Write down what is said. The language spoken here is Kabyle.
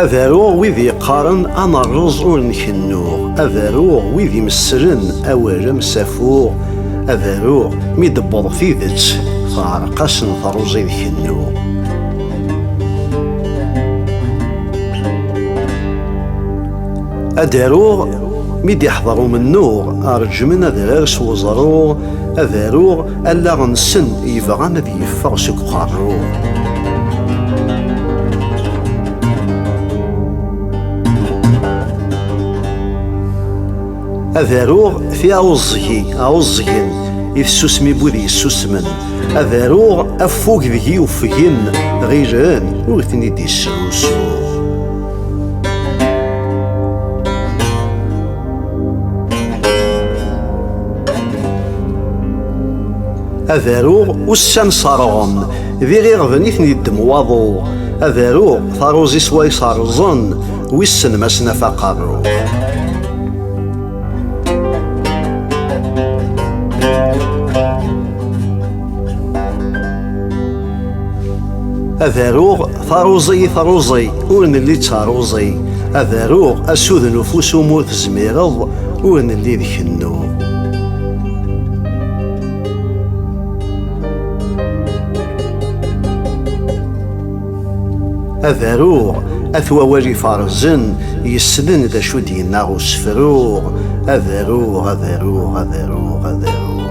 Ad aruɣ wid yeqqaren amerreẓ ur nkennuɣ, ad aruɣ wid imesslen awal am safuɣ, ad aruɣ mi d-tewweḍ tidet teɛreq-asen teṛṛuẓi d kennuɣ. Ad aruɣ mi d-iḥḍer umennuɣ, reǧǧmen adrar s weẓruɣ, ad aruɣ Allaɣ-nsen yebɣan ad yeffeɣ seg uqerruy. Ad aruɣ tiɛuẓẓgi, ɛuẓẓgen, i tsusmi n wid yessusmen. Ad aruɣ affug deg-i uffgen, ɣilen ur ten-id-yesrusuɣ. ad aruɣ ussan ṣerɣen d iɣiɣden i ten-yeddem waḍu ad aruɣ taruẓi sway ṣerẓen wissen ma snaf aqerru ad aruɣ Taruẓi taruẓi ur nelli d taruẓi ad aruɣ asud n ufus umu tezmireḍ ur nelli d kennu. Ad aruɣ at wawal ifarzen yessnen d acu d-yenna usefruɣ ad aruɣ ad aruɣ ad aruɣ ad aruɣ